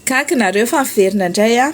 Gaga nareo fa miverina indray an.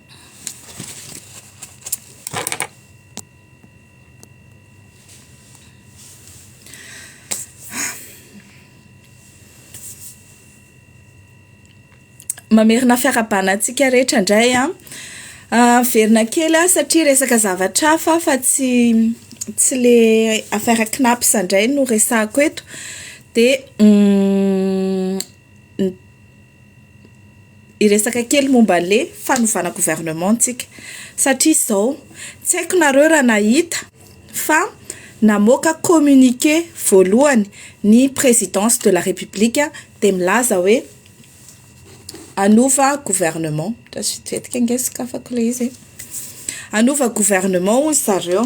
mamerina fiarahabana antsika rehetra indray an ah, miverina kely aho satria resaka zavatra hafa fa tsy tsy le affaire kinaps indray no resahako eto dia mm, ny hiresaka kely momba le fanovana gouvernement tsika satria zao tsy haiko nareo raha nahita fa namoaka communiqué voalohany ny présidence de la république de milaza hoe hanova gouvernement lasa vitsivitsika ange sokafako le izy e hanova gouvernement hoy zareo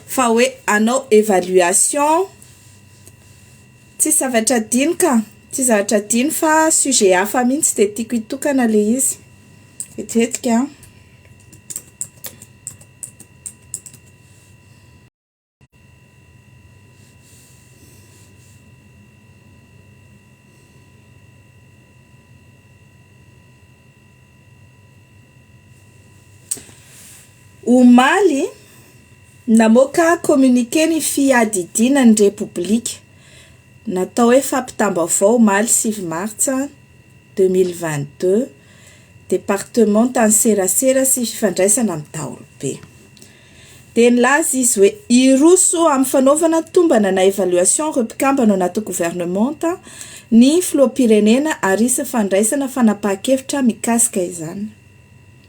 fa hoe hanao évaluation Tsisy zavatra adino ka! Tsisy zavatra adino fa sujet hafa mihitsy dia tiako hitokana le izy. Hetihetsika an! Omaly. Namoaka communiqué ny Fiadidiana ny Repoblika, natao hoe fampitam-baovao omaly sivy martsa deux mille vingt-deux, Departemantan'ny Serasera sy Fifandraisana amin'ny Daholobe. Dia nilaza izy hoe hiroso amin'ny fanaovana tombana na évaluation ireo mpikambana ao anaty governemanta ny Filoham-pirenena ary hisy ny fandraisana fanapahan-kevitra mikasika izany.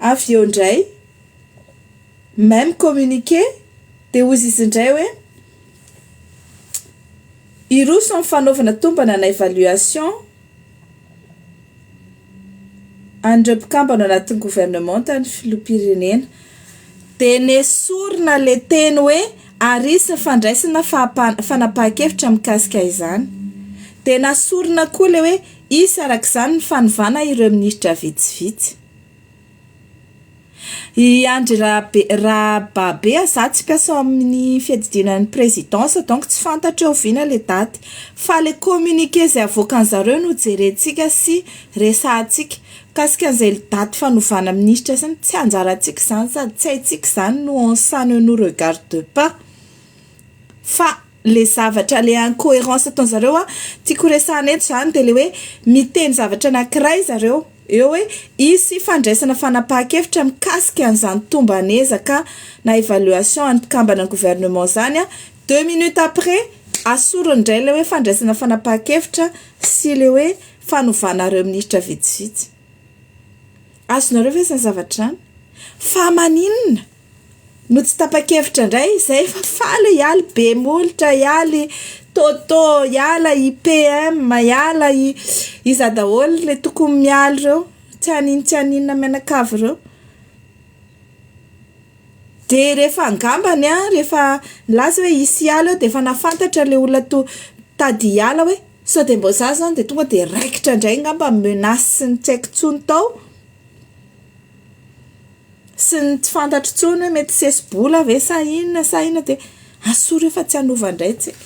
Avy eo indray, même communiqué, dia hozy izy indray hoe, Hiroso amin'ny fanaovana tombana na évaluation an'ireo mpikambana ao anatin'ny governemanta ny filoham-pirenena. Dia nesorina ilay teny hoe ary hisy ny fandraisana fanapahan-kevitra mikasika izany. Dia nasorina koa ilay hoe. Hisy araka izany ny fanovana ireo minisitra vitsivitsy. I Andry Rabe Rababe a za tsy mpiasa ao amin'ny fiadidiana ny présidence donc tsy fantatro hoe oviana le daty fa le communiqué zay avoakan'ny zareo no jerentsika sy resahantsika mikasika an'izay daty fanovana minisitra sy ny tsy anjarantsika zany sady tsy haintsika zany no on ça ne nous regarde pas fa le zavatra le incohérence ataony zareo a tiako resahana eto zany de le hoe miteny zavatra anakiray zareo eo hoe hisy fandraisana fanapahan-kevitra mikasika an'izany tomban'ezaka na evaluation an'ny mpikambana ny gouvernement zany a deux minutes après asorony indray le hoe fandraisana fanapahan-kevitra sy le hoe fanovana ireo ministra vitsivitsy Azonareo ve izany zavatra izany? Fa maninona no tsy tapa-kevitra indray izay fa faly hiala i Bemolotra, hiala i Toto, hiala i PM, hiala i iza daholo ilay tokony miala ireo, tsy haninona tsy haninona mianakavy ireo? Dia rehefa angambany rehefa nilaza hoe hisy hiala eo dia efa nahafantatra ilay olona to- tady hiala hoe. Sao dia mbô za zany dia tonga dia raikitra indray ngamba ny menace ny tsy haiko tsony tao sy ny tsy fantatro tsony hoe mety sesi-bola ve sa inona sa inona dia asore hoe fa tsy hanova indray tsika.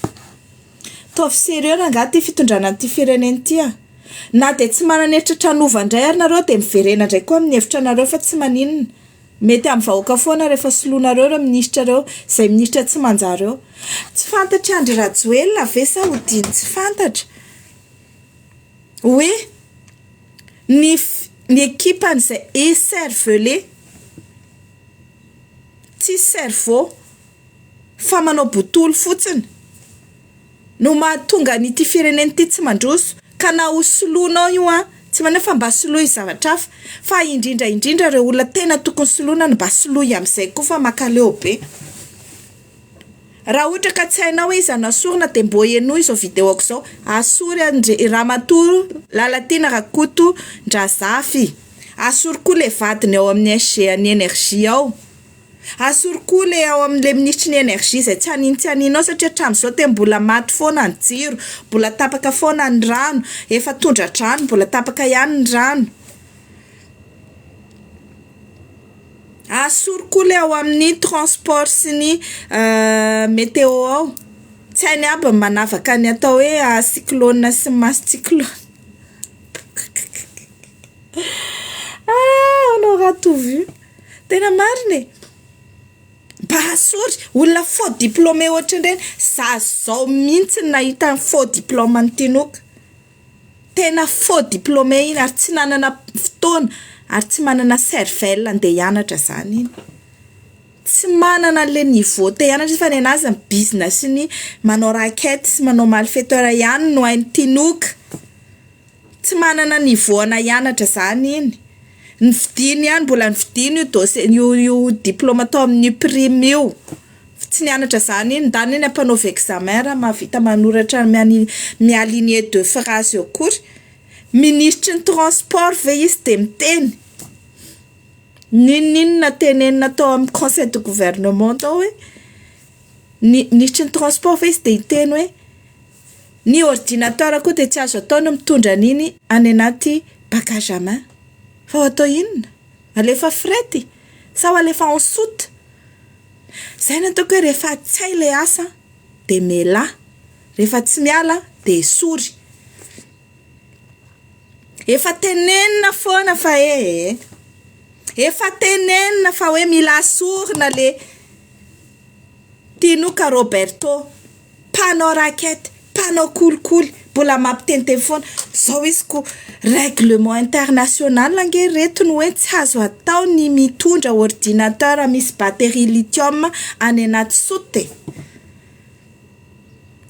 Ataovy sérieux rangah ity fitondrana an'ity firenena ity a! Na dia tsy manana heritreritra hanova indray ary nareo dia miverena indray koa amin'ny hevitra anareo fa tsy maninona. Mety amin'ny vahoaka foana rehefa soloinareo ireo minisitra ireo, izay minisitra tsy manjary ireo. Tsy fantatry Andry Rajoelina ve sa odiany tsy fantatra hoe ny ny ekipan'izay ecervelé, tsisy cerveau, fa manao botolo fotsiny no mahatonga an'ity firenena ity tsy mandroso ka na ho soloinao io an tsy manao fa mba soloy zavatra hafa fa indrindra indrindra ireo olona tena tokony soloina no mba soloy amin'izay koa fa makaleo be raha ohatra ka tsy hainao hoe iza no asorina dia mbo henoy izao video ko izao asory an-dry ramatoa Lalatiana Rakotondrazafy asory koa ilay vadiny ao amin'ny SG an'ny energie ao Asoro koa ilay ao amin'ilay minisitry ny energie izay tsy hanin tsy haninao satria hatramin'izao dia mbola maty foana ny jiro, mbola tapaka foana ny rano, efa tondra-drano mbola tapaka ihany ny rano. Asoro koa ilay ao amin'ny transport sy ny meteo ao, tsy hainy aby ny manavaka ny atao hoe cyclone sy ny maha-tsy cyclone. Ahoana ratovo io? Tena marina e! Bahasory, olona faux diplômé ohatran'ireny, za zao mihitsy no nahita ny faux diplôme an'i Tinoka. Tena faux diplômé iny ary tsy nanana fotoana ary tsy manana cervelle handeha hianatra izany iny. Tsy manana an'ilay niveau te hianatra izy fa ny anà aza mibizina sy ny manao racket sy manao malfaiteur ihany no hain'i Tinoka. Tsy manana niveau ana hianatra zany iny, ny fidiny ihany mbola nividiany io dose- io io diploma tao amin'ny prime io, fa tsy nianatra zany iny, ndany eny ampanaovy examen raha mahavita manoratra miani- mi aligner deux phrase eo akory, minisitry ny transport ve izy de miteny, n'inon'inona tenenina tao amin'ny conseil de gouvernement tao hoe ny minisitry ny transport ve izy de hiteny hoe. Ny ordinateur koa dia tsy azo atao ny mitondra an'iny any anaty bagage à main. Fa ho atao inona? Alefa fret sa ho alefa en soute? Izay no ataoko hoe rehefa tsy hay ilay asa dia melà, rehefa tsy miala dia esory. Efa tenenina foana fa e e e! Efa tenenina fa hoe mila asorina ilay tinoka Roberto. mpanao raquette, mpanao kolikoly, mbola mampiteniteny foana zao izy ko règlement international ange reto no hoe tsy azo atao ny mitondra ordinateur misy batterie lithium any anaty sot e!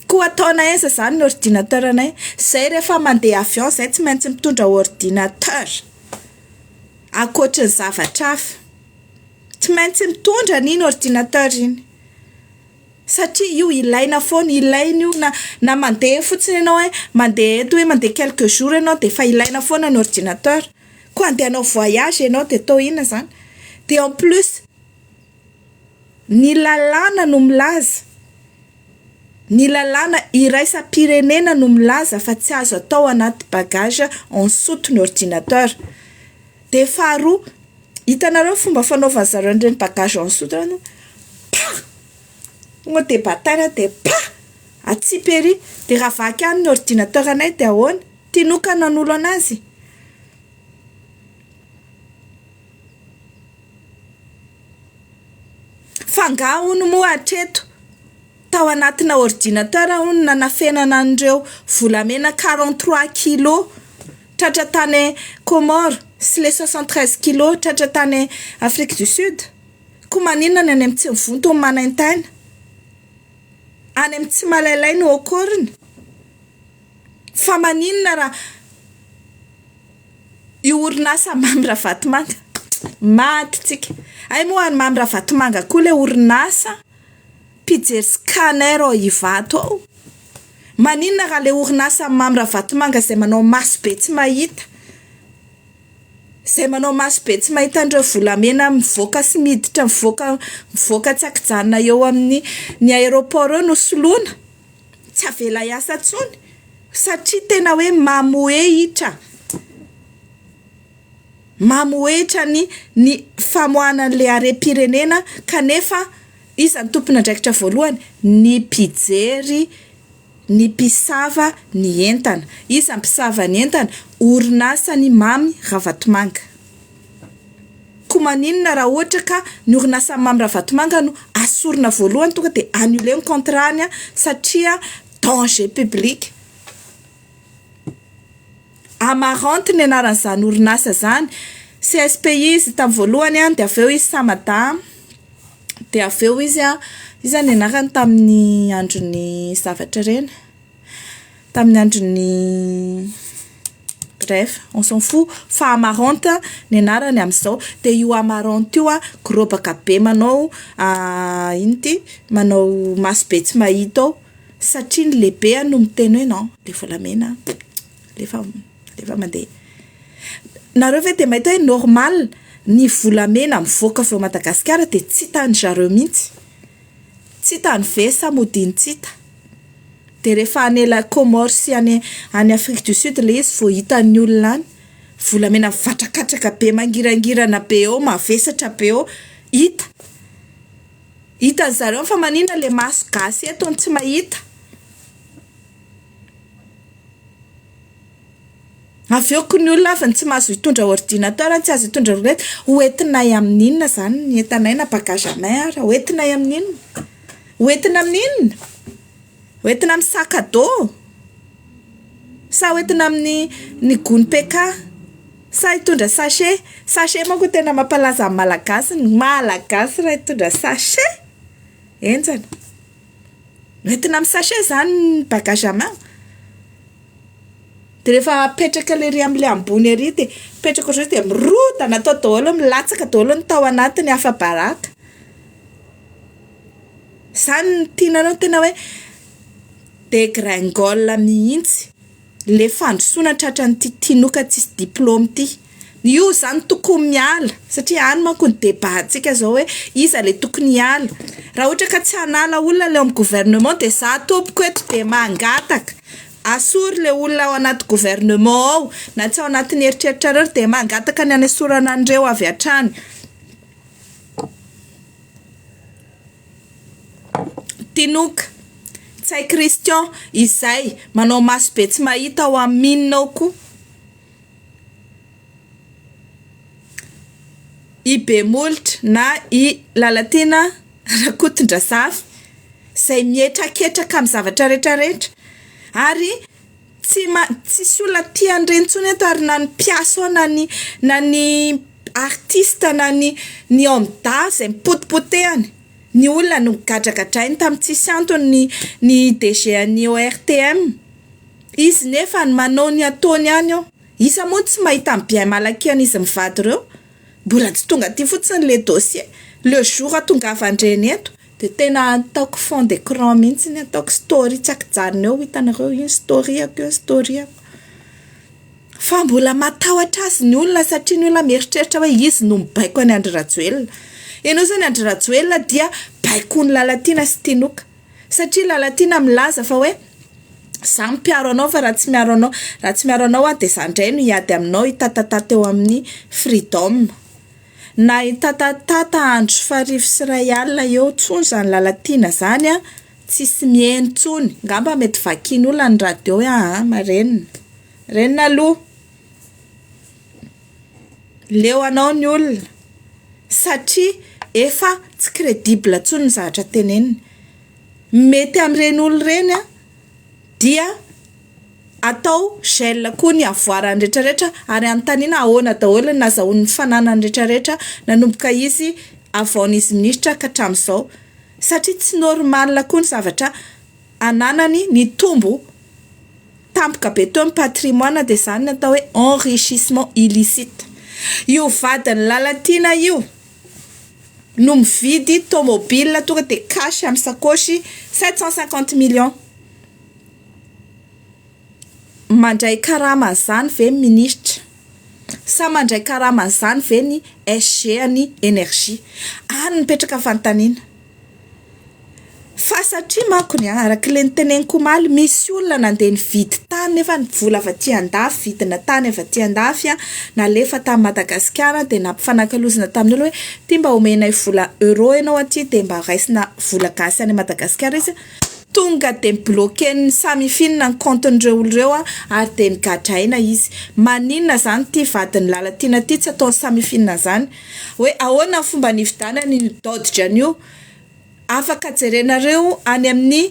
koa ataonay aiza izany ny ordinateur anay? izay rehefa mandeha avion izay tsy maintsy mitondra ordinateur ankoatry ny zavatra hafa, tsy maintsy mitondra anie iny ordinateur iny satria io ilaina foana, ilaina io na na mandeha fotsiny ianao hoe mandeha eto hoe mandeha quelques jours ianao dia efa ilaina foana ny ordinateur, koa handeha hanao voyage ianao dia atao inona izany? dia en plus ny lalàna no milaza, ny lalàna iraisam-pirenena no milaza fa tsy azo atao anaty bagage ansoute ny ordinateur. Dia faharoa, hitanareo ny fomba fanaovan'ny zareo an'ireny bagage en soute ireny, pah! tonga dia bataille dia pah! atsipy ery, dia raha vaky any ny ordinateur anay dia ahoana? Tinoka ny hanolo an'azy? Fa angaha hono moa hatreto, tao anatina ordinateur hono no nanafenana an'ireo volamena quarante trois kilos? Tratra tany Comores sy le soixante treize kilo tratra tany Afrique du Sud? Ko maninona ny any am tsy mivonto ny manaintaina? Any am tsy malailay no au corne? Fa maninona raha io orinasa Mamy Ravatomanga? Maty tsika! Hay moa any Mamy Ravatomanga koa le orinasa? Mpijery scanner ao Ivato ao. Maninona raha ilay orinasa Mamy Ravatomanga izay manao maso be tsy mahita, izay manao maso be tsy mahita an'ireo volamena mivoaka sy miditra mivoaka mivoaka tsy an-kijanona eo amin'ny ny aéroport eo no soloina, tsy avela hiasa intsony satria tena hoe mamohehitra, mamohehitra ny ny famoahana an'ilay harem-pirenena kanefa. Iza no tompon'andraikitra voalohany? Ny mpijery, ny mpisava ny entana. Iza no mpisava ny entana? Orinasan'i Mamy Ravatomanga. Koa maninona raha ohatra ka ny orinasan'i Mamy Ravatomanga no asorina voalohany tonga dia annuler ny contrat-ny satria danger public? Amaranth ny anaran'izany orinasa izany, CSPI izy tamin'ny voalohany an, dia avy eo izy Samada, dia avy eo izy an, iza ny anarany tamin'ny andron'ny zavatra ireny? tamin'ny andron'ny bref, on s'en fou fa Amaranth ny anarany amin'izao, dia io Amaranth io an, gorobaka be manao inona ity, manao maso be tsy mahita ao. Satria ny lehibe no miteny hoe non dia volamena alefa alefa mandeha. Nareo ve dia mahita hoe normal ny volamena mivoaka avy ao Madagasikara dia tsy hitan-dry zareo mihitsy, tsy hitan'ny VS modiany tsy hita, dia rehefa any la Comore sy any any Afrique du Sud ilay izy vao hitan'ny olona any, volamena mivatrakatraka be mangirangirana be eo, mavesatra be eo hita. Hitan'ny zareo fa manina le maso gasy eto no tsy mahita. Avy eo koa ny olona avy ny tsy mahazo hitondra ordinateur, ny tsy azo hitondra roulette, ho entinay amin'ny inona izany ny entanay na bagage anay ary? Ho entinay amin'ny inona? Ho entina amin'ny inona? Ho entina amin'ny sac à dos? Sa ho entina amin'ny ny gony PK? Sa hitondra sachet? Sachet manko tena mampalaza ny malagasy, ny malagasy raha hitondra sachet? Enjana. Ho entina amin'ny sachet izany ny bagage à main? Dia rehefa apetraka lery amin'ilay ambony ary dia apetraka ohatran'izao dia mirodana atao daholo, milatsaka daholo ny tao anatiny afa-baraka. Izany no tianareo ny tena hoe dégringole mihitsy. Ilay fandrosoana tratran'ity tinoka tsisy diplaoma ity. Io izany tokony miala, satria any manko ny débat-ntsika izao hoe iza ilay tokony hiala. Raha ohatra ka tsy hanala olona ilay ao amin'ny gouvernement dia izaho tompoko eto dia mangataka, asory ilay olona ao anaty gouvernement ao, na tsy ao anatin'ny eritreritrareo ary dia mangataka ny hanesorana an'ireo avy hatrany. Tinoka, Ntsay Christian, Izay, manao maso be tsy mahita ao amin'ny mine ao koa i Bemolotra na i Lalatiana Rakotondrazafy izay mihetraketraka amin'ny zavatra rehetra rehetra ary Tsy ma tsisy olona tia an'ireny intsony eto ary na ny mpiasa ao na ny na ny artiste na ny ny homme d'art zay mipotipotehany ny olona no gadragadrainy tam tsisy antony ny ny DG an'ny ORTM izy nefa ny manao ny ataony ihany ao iza moa no tsy mahita ny bien mal acquis an'izy mivady ireo mbola tsy tonga aty fotsiny le dossier le jour atongavan-dreny eto Dia tena ataoko fond d'écran mihitsy ny ataoko story tsy ankijanona eo hitanareo io ny story-ako io ny story-ako fa mbola matahotra azy ny olona satria ny olona mieritreritra hoe izy no mibaiko an'i Andry Rajoelina ianao izany Andry Rajoelina dia baikoin'i Lalatiana sy Tinoka satria Lalatiana milaza fa hoe izaho mpiaro anao fa raha tsy miaro anao raha tsy miaro anao aho dia izaho indray no hiady aminao hitatata teo amin'ny freedom Nahitatatata andro sy farivo sy iray alina eo tsony izany Lalatiana zany a, tsisy miheno tsony, ngamba mety vakin' olona ny radio hoe aa marenina, marenina aloha, leo anao ny olona satria efa tsy credible tsony ny zavatra teneniny, mety amin'ireny olona ireny a dia. Atao gel koa ny avoarany retraretra ary anontaniana ahoana daholo ny nazahoan'ny fananany retraretra nanomboka izy avaon'izy minisitra ka hatramin'izao. Satria tsy normal koa ny zavatra ananany nitombo tampoka be teo ny patrimoine dia izany ny atao hoe enrichissement illicite. Io vadin'i Lalatiana io no mividy tomobile tonga dia cash amin'ny sakaosy sept cent cinquante millions. Mandray karama zany ve ny ministra? Sa mandray karama an'izany ve ny SG an'ny Energie? Any no mipetraka fanontaniana. Fa satria manko ny araka ilay noteneniko omaly, misy olona nandeha nividy tany nefa ny vola avy aty an-dafy, vidina tany avy aty an-dafy, nalefa tany Madagasikara dia nampifanakalozana tamin'ny olona hoe, ity mba omenay vola euro ianao aty dia mba raisina vola gasy any Madagasikara izy. Tonga dia bloquen'ny samifinina ny kaontin'ireo olona ireo ary dia nigadraina izy. Maninona izany ity vadin'i Lalatiana ity tsy ataon'ny samifinina izany? Hoe ahoana ny fomba nividianany io dodge-ny io? Afaka jerenareo any amin'ny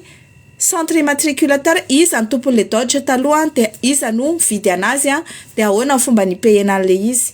centre immatriculateur iza ny tompon'ilay dodge taloha dia iza no nividy an'azy dia ahoana ny fomba ni-payer-na an'ilay izy.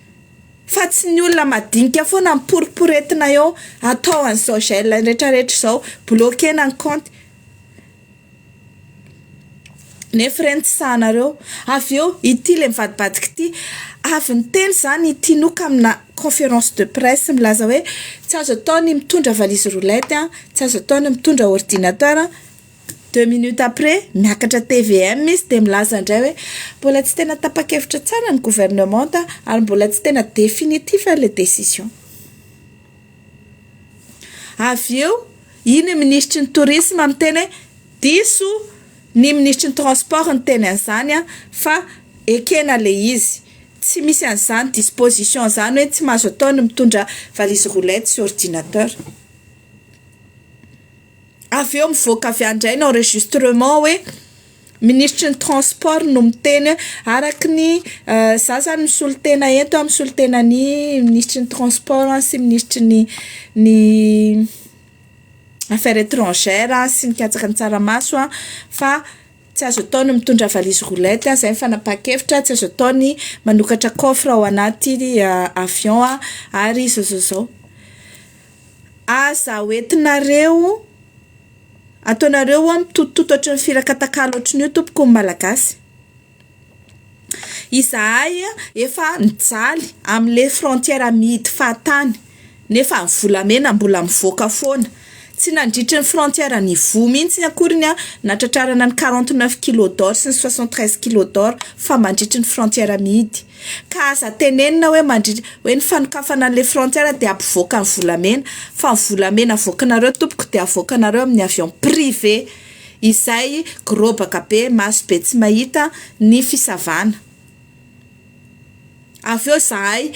fa tsy ny olona madinika foana miporiporetina eo atao an'izao gel retraretra izao, bloquena ny kaonty nefa ireny tsy sahanareo, avy eo ity le mivadibadika ity avy niteny izany i Tinoka amina conférence de presse milaza hoe tsy azo atao ny mitondra valise roulette, tsy azo atao ny mitondra ordinateur. Deux minutes après, miakatra tvm izy dia milaza indray hoe mbola tsy tena tapa-kevitra tsara ny gouvernement ary mbola tsy tena définitif ilay décision. Avy eo, iny ny minisitry ny tourisme miteny hoe diso ny minisitry ny transport niteny an'izany fa ekena ilay izy. Tsy misy an'izany disposition izany hoe tsy mahazo atao ny mitondra valise roulette sy ordinateur. avy eo mivoaka avy any indray ny enregistrement hoe minisitry ny transport no miteny araka ny za zany misolo tena eto a misolo tena an'i minisitry ny transport aho sy minisitry ny ny affaire etrangère a sy ny katsaka ny tsaramaso a fa tsy azo atao ny mitondra valise roulette a zay ny fanapahan-kevitra tsy azo atao ny manokatra coffre ao anaty avion a ary zao zao zao Aza ho entinareo, ataonareo hoa mitotototo ohatry ny firakatakala ohatry ny io tompoko ny Malagasy. Izahay efa nijaly amin'ilay frontière mihidy fahatany nefa ny volamena mbola mivoaka foana. Tsy nandritry ny frontière nivoha mihitsy akory ny ahy nahatratrarana ny quarante neuf kilos d'or sy ny soixante treize kilos d'or fa mandritry ny frontière mihidy. Ka aza tenenina hoe mandritra hoe ny fanokafana an'ilay frontière dia hampivoaka ny volamena fa ny volamena avoakinareo tompoko dia avoakinareo amin'ny avion privé izay gorobaka be maso be tsy mahita ny fisavana avy eo izahay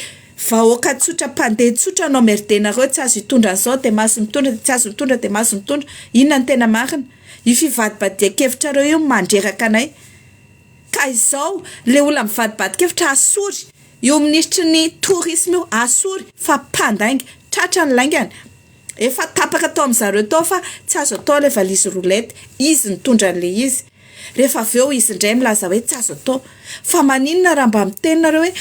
vahoaka tsotra mpandeha tsotra no amerdenareo tsy azo hitondra an'izao dia maso mitondra dia tsy azo mitondra dia maso mitondra inona no tena marina io fivadibadian-kevitrareo io mandreraka anay Ka izao le olona mivadibadikevitra asory io minisitry ny tourisme io asory fa mpandainga, tratra ny laingany, efa tapaka tao amzareo tao fa tsy azo atao le valise roulette, izy nitondra anle izy, rehefa avy eo izy ndray milaza hoe tsy azo atao, fa maninona raha mba miteny nareo hoe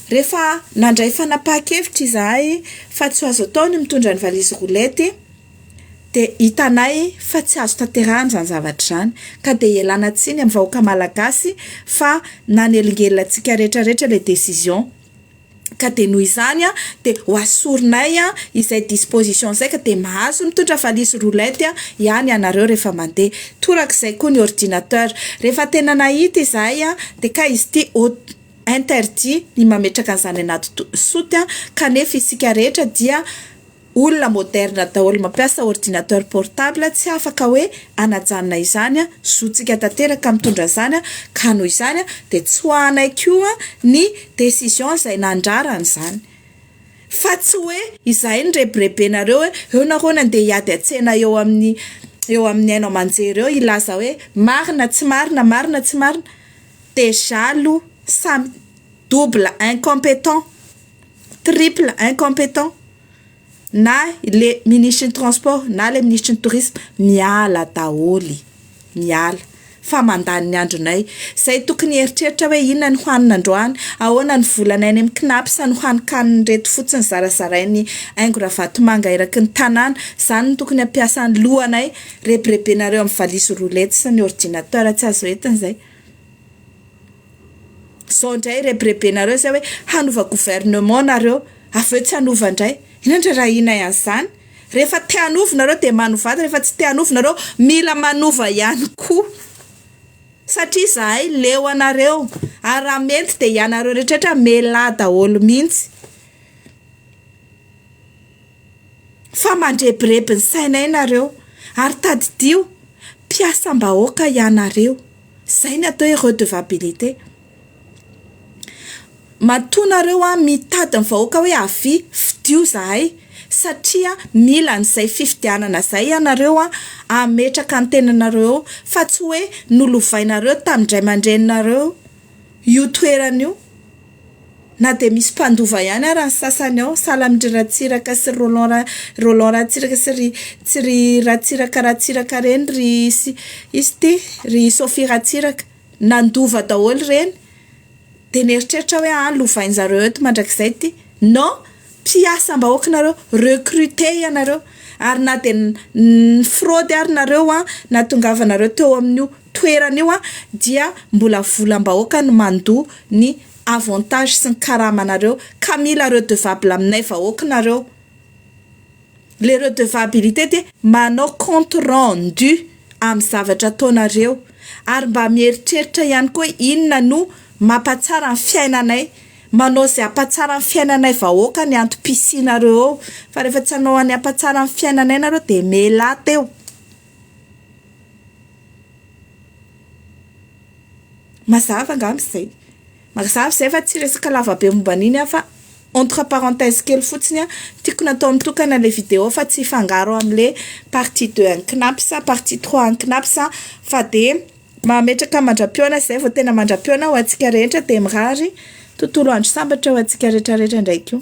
rehefa nandray fanapahan-kevitra izahay fa tsy ho azo atao ny mitondra ny valise roulette, dia hitanay fa tsy azo tanterahana izany zavatra izany ka dia ialana tsiny amin'ny vahoaka Malagasy fa nanelingelina antsika rehetra rehetra ilay décision ka dia noho izany dia ho asorinay izay disposition izay ka dia mahazo mitondra valizy roulette ihany ianareo rehefa mandeha, torak'izay koa ny ordinateur, rehefa tena nahita izahay dia kay izy ity interdit ny mametraka an'izany anaty soute kanefa isika rehetra dia Olona moderne daholo mampiasa ordinateur portable tsy afaka hoe anajanona izany zontsika tanteraka mitondra izany ka noho izany dia tsoahanay koa ny decision izay nandrara an'izany fa tsy hoe izahay nirebirebenareo hoe eo nareo nandeha hiady an-tsena eo amin'ny eo amin'ny haino aman-jery eo hilaza hoe marina tsy marina marina tsy marina dejà aloha samy double incompetent Triple incompetent na le ministry ny transport na le ministry ny tourisme miala daholo miala fa mandany ny andronay zay tokony hieritreritra hoe inona ny hohanina androany ahoana ny volana any amin'ny knaps no hanokaniny reto fotsiny zarazarainy haingo ravatomanga eraky ny tanàna zany no tokony hampiasa ny lohanay rebirebenareo amin'ny valizy roulette sy ny ordinateur tsy azo entina zay Zao ndray rebirebenareo zay hoe hanova gouvernement nareo avy eo tsy hanova ndray, inona ndray raha inay an'zany? Rehefa te hanova nareo de manovata, rehefa tsy te hanova nareo mila manova ihany koa satria zahay leo anareo ary raha mety de ianareo rehetra rehetra melaha daholo mintsy. fa mandrebireby ny sainay nareo ary tadidio mpiasam-bahoaka ianareo zay ny atao hoe redevabilite matoa nareo an mitady ny vahoaka hoe avy fidio zahay satria mila an'izay fifidianana zay ianareo an ametraka ny tenanareo eo fa tsy hoe nolovainareo tamin'ny ray aman-dreninareo Io toerana io, na dia misy mpandova ihany ara ny sasany ao, sahala amin-dry Ratsiraka sy ry Roland Ra- Roland Ratsiraka sy ry sy ry Ratsiraka Ratsiraka ireny ry sy iza ity? ry Sophie Ratsiraka. Nandova daholo ireny, dia nieritreritra aho hoe any lovain-drizareo eto mandrakizay ity. Non! Mpiasam-bahoaka nareo, recruté ianareo, ary na dia ny ny fraude ary nareo an, nahatongavanareo teo amin'io. toerana io dia mbola volam-bahoaka no mandoa ny avantage sy ny karama nareo ka mila redevable aminay vahoak nareo le redevabilite dia manao compte rendu amin'ny zavatra ataonareo ary mba mieritreritra ihany koa inona no mampatsara ny fiainanay manao izay ampatsara ny fiainanay vahoaka ny antom-pisianareo eo fa rehefa tsy hanao any ampatsara ny fiainanay nareo dia melate eo. Mazava angamba izay. Mazava izay fa tsy resaka lavabe momba an'iny aho fa entre parenthèse kely fotsiny aho. Tiako natao mitokana ilay vidéo fa tsy hifangaro amin'ilay partie deux an'ny Cnaps, partie trois an'ny Cnaps aho fa dia mametraka mandra-pihaona izay vao tena mandra-pihaona ho antsika rehetra dia mirary tontolo andro sambatra ho antsika rehetrarehetra indray koa.